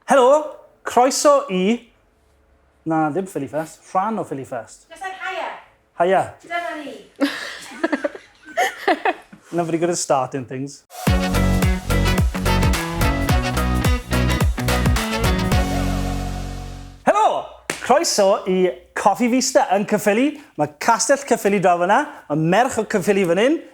Helo! Croeso i... Na, ddim Phillyfest. Rhan o Phillyfest. Just said Haia! Haia! Dyma ni! Not very good at starting things. Helo! Croeso i Coffee Vista yn Caerffili. Mae Castell Caerffili draw fan'na. Mae merch o Caerffili fan hyn.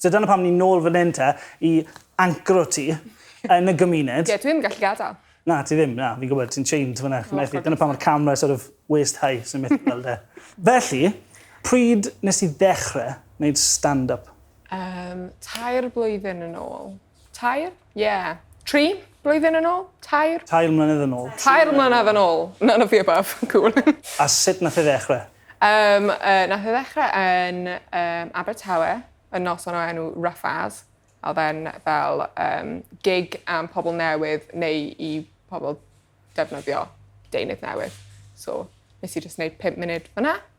So dyna pam ni'n nôl fan hyn te, i ancro ti yn y gymuned. Ie, dwi ddim yn gallu gadael. Na, ti ddim, na, fi'n gwybod, ti'n chained fyna. Methu, dyna pam mae'r camera sort of waist high sy'n methu gweld e. Felly, pryd nes ti ddechrau wneud stand-up? Um, tair blwyddyn yn ôl. Tair? Ie. Tri blwyddyn yn ôl? Tair? Tair mlynedd yn ôl. Tair mlynedd yn ôl. None of the above. Cool. A sut nath e ddechrau? Um, uh, nath e ddechrau yn um, Abertawe, yn noson o enw Rough As. A oedd e'n fel um, gig am pobl newydd neu i pobl defnyddio deunydd newydd. So, nes i just wneud 5 munud fyna.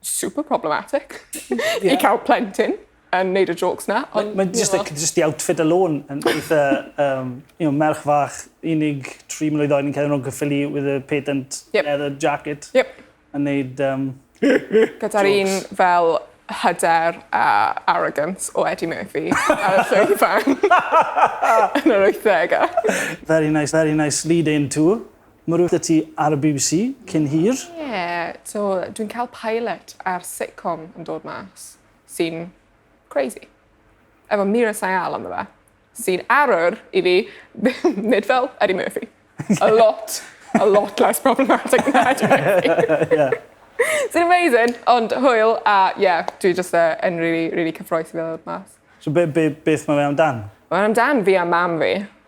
super problematic yeah. i cael plentyn yn neud y jokes na. Ond, mae ma just, the, just the outfit alone yn eitha, um, you know, merch fach, unig tri mlynedd oed yn cael yn gyffili with a patent yep. leather jacket. Yep. Yn neud... Um, Gyda'r un fel hyder a arrogance o Eddie Murphy ar y llwyth fan yn yr 80au. Very nice, very nice lead-in to Mae rhywbeth 'da ti ar y bbc cyn hir? Ie, so dwi'n cael pilot ar sitcom yn dod mas, sy'n crazy. Efo Meera Syal ynddo fe, sy'n arwr i fi nid fel Eddie Murphy. A lot, a lot less problematic than Eddie Murphy. yeah. Sy'n amazing, ond hwyl, a ie, yeah, dwi just uh, yn really, really cyffroes i ddod mas. So be, be, beth mae fe amdan? Mae'n amdan fi a mam fi.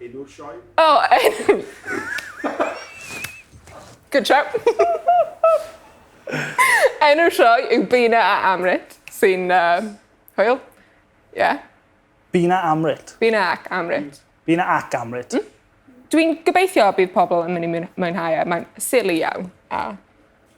Enw'r sioe? O! Good shout. Enw'r sioe yw Bina a Amrit, sy'n uh, hwyl. Ie. Yeah. Bina Amrit. Bina ac Amrit. Bina ac Amrit. Mm? Dwi'n gobeithio bydd pobl yn mynd i mwynhau e. Mae'n silly iawn. A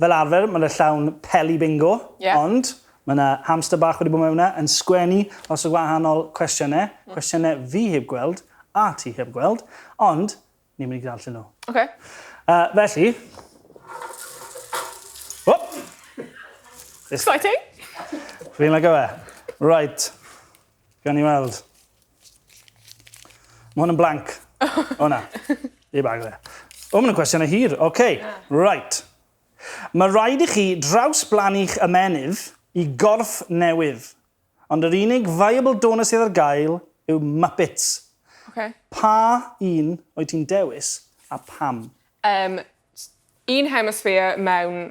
Fel arfer, mae 'na llawn peli bingo, ond mae 'na hamster bach wedi bod mewn 'na yn sgwennu lots o wahanol cwestiynau, cwestiynau fi heb gweld a ti heb gweld, ond ni'n mynd i ddarllen nhw. Ok. Yy, felly... O! Exciting! Fi'n licio fe. Reit. Gawn ni weld. Mae hwn yn blank. o na. Ei bag dde. O, mae'n cwestiynau hir. Oce, okay. yeah. right. Mae rhaid i chi drawsblanu'ch ymenydd i gorff newydd. Ond yr unig viable donor sydd ar gael yw Muppets. Okay. Pa un o'i ti'n dewis a pam? Um, un hemisphere mewn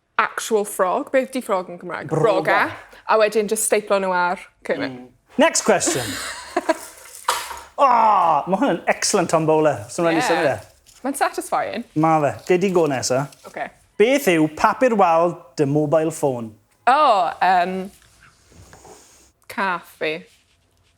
actual frog. Beth di frog yn Cymraeg? Broga. Broga. A wedyn just steiplo nhw ar cyrnyn. Mm. Next question. oh, ah, mae hwn yn excellent Tom Bowler. Swn yeah. symud e. Mae'n satisfying. Mae fe. Gei di go nesa. Okay. Beth yw papur wal dy mobile phone? Oh, um, cath fi.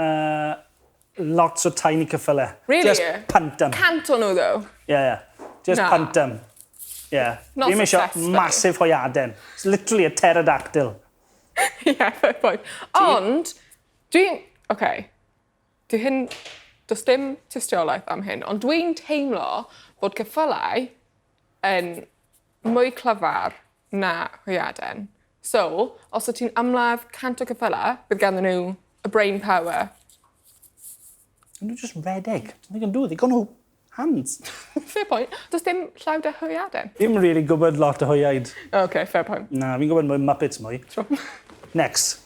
Yy lots o tiny cyffyle. Really? Just punt em. Cant o nhw ddo? Ie ie. Just Na. punt em. Ie. Not Fi'm isio successful. massive hwyaden. It's literally a pterodactyl. Ie, fair point. Ond, dwi'n... Oce. Dwi hyn... Does dim tystiolaeth am hyn, ond dwi'n teimlo bod cyffylau yn mwy clyfar Na, hwyaden. So, os wyt ti'n ymladd cant o ceffylau, bydd ganddyn nhw y brain power. Yn nhw just redeg. They can do, they got no hands. fair point. Does dim llaw da hwyaden? Dim really gwybod lot o hwyaid. OK, fair point. Na, fi'n gwybod mwy Muppets mwy. True. Next.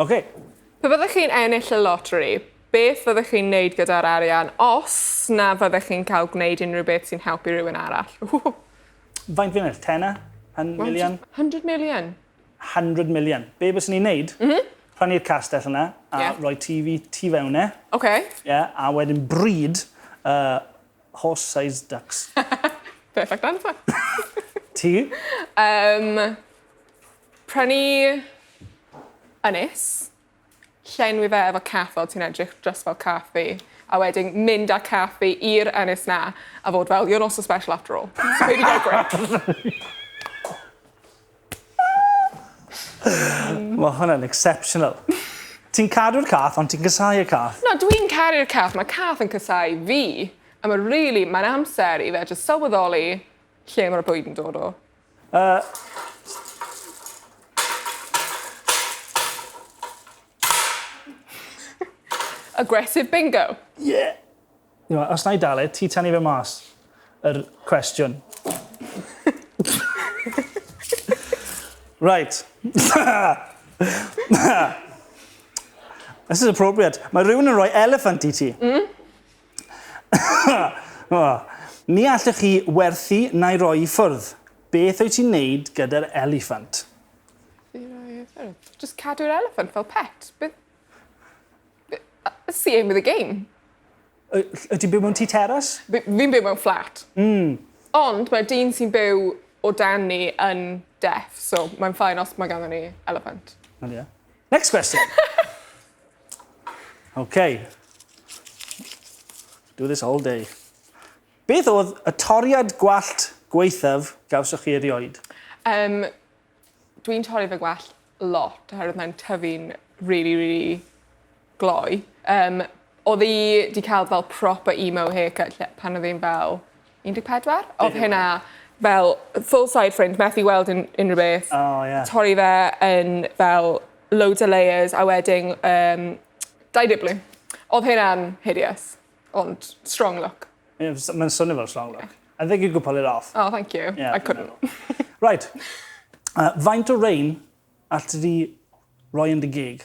OK. Pe byddech chi'n ennill y loteri, beth fyddech chi'n wneud gyda'r arian os na fyddech chi'n cael gwneud unrhyw beth sy'n helpu rhywun arall? Ww! Faint fi'n ennill? Tenner? Hun- million? 100 million. 100 million. Be byswn i'n neud? Mhm. Prynu'r castell yna a Ie. rhoi TV tu fewn e. OK. Ie, a wedyn breed uh, horse-sized ducks. Perfect answer. Ti? Yym. Prynu ynys, llenwi fe efo cath fel ti'n edrych just fel cath fi, a wedyn mynd â cath fi i'r ynys 'na a fod fel you're not so special after all. So fi 'di gael gweud. Ma' hwnna'n exceptional. Ti'n cadw'r cath ond ti'n casau y cath. Na dwi'n caru'r cath, ma' cath yn casau fi a ma' rili mae'n amser i fe jyst sylweddoli lle ma'r bwyd yn dod o. Uh, aggressive bingo. Yeah. You know, os na i dalu, ti tan i fe mas yr er cwestiwn. right. This is appropriate. Mae rhywun yn rhoi elephant i ti. Mm? Ni allech chi werthu na'i roi i ffwrdd. Beth wyt ti'n neud gyda'r eliffant? I roi i ffwrdd? Just cadw'r eliffant fel pet. Beth... That's the aim of the game. Wyt ti'n byw mewn tŷ teras? Fi'n byw mewn fflat. Mm. Ond mae'r dyn sy'n byw o dan ni yn deaf, so mae'n ffain os mae ganddo ni eliffant. Ond ie. Next question! Okay. Do this all day. Beth oedd y toriad gwallt gweithaf gawsoch chi erioed? Um, Dwi'n torri fy gwallt lot, oherwydd mae'n tyfu'n really, really gloi. Um, oedd i wedi cael fel proper emo haircut pan oedd hi'n fel 14? Odd Be' 'di hwnna? hynna fel full side fringe methu weld un- unrhyw beth. O ie. Torri fe yn fel loads o layers a wedyn yym Dau dibli. Odd hynna'n hideous. Ond strong look. Ie f- s- ma'n swnio fel strong look. I think you could pull it off. Oh thank you. Ie I fi'n couldn't. meddwl. Reit. Yy faint o rain allet ti di roi yn dy geg?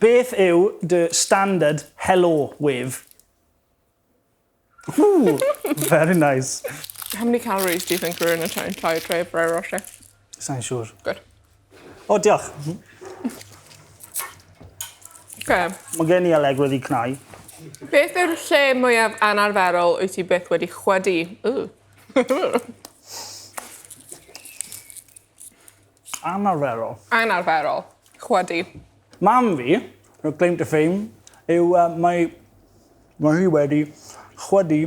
Beth yw dy standard helo wef? Ww! Very nice. How many calories do you think are in a tiny entire tray of Ferrero Rocher? Sai'n siŵr. Good. O, diolch. Okay. Mae gen i aleg wedi cnau. Beth yw'r lle mwyaf anarferol wyt ti byth wedi chwedi? Ooh. Anarferol. Anarferol. Chwydu. Mam fi, her claim to fame, yw uh, mae, mae hi wedi chwydu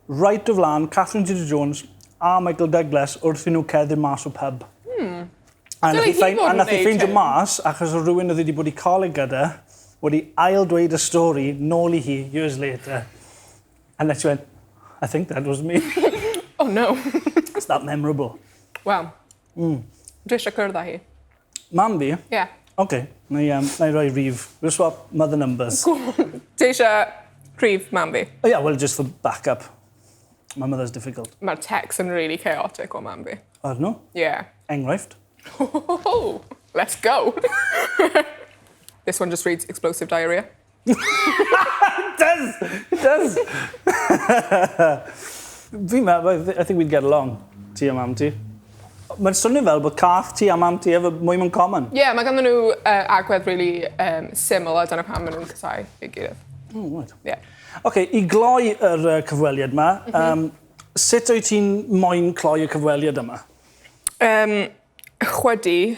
right o flan Catherine Zeta-Jones a Michael Douglas wrth i nhw ceddu mas o pub. Hmm. A nath i ffeindio mas, achos o rhywun oedd wedi bod i coleg gyda, wedi ail dweud y stori nôl i hi years later. And then she went, I think that was me. oh no. It's that memorable. Wel, mm. dwi eisiau cyrdd â hi. Mam fi? Ie. Yeah. OK, na i, um, na i roi rif. We'll swap mother numbers. Ti eisiau rif mam fi? Oh yeah, well, just for backup. My mother's difficult. Mae'r text yn really chaotic o mam fi. Ar nhw? Ie. Yeah. Enghraifft? Let's go! This one just reads explosive diarrhea. does! Does! Fi'n meddwl, I think we'd get along, ti a mam ti. Mae'n swnio fel bod cath ti a mam ti efo mwy mewn common. Ie, yeah, mae ganddyn nhw uh, agwedd really um, syml a dyna pam maen nhw'n casau ei gilydd. Oh, right. Yeah. OK, i gloi yr uh, cyfweliad yma, mm -hmm. um, sut wyt ti'n moyn cloi y cyfweliad yma? Um, chwydi,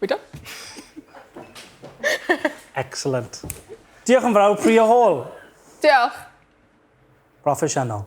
We done? Excellent. Diolch yn fawr, Priya Hall. Diolch. Proffesiynol.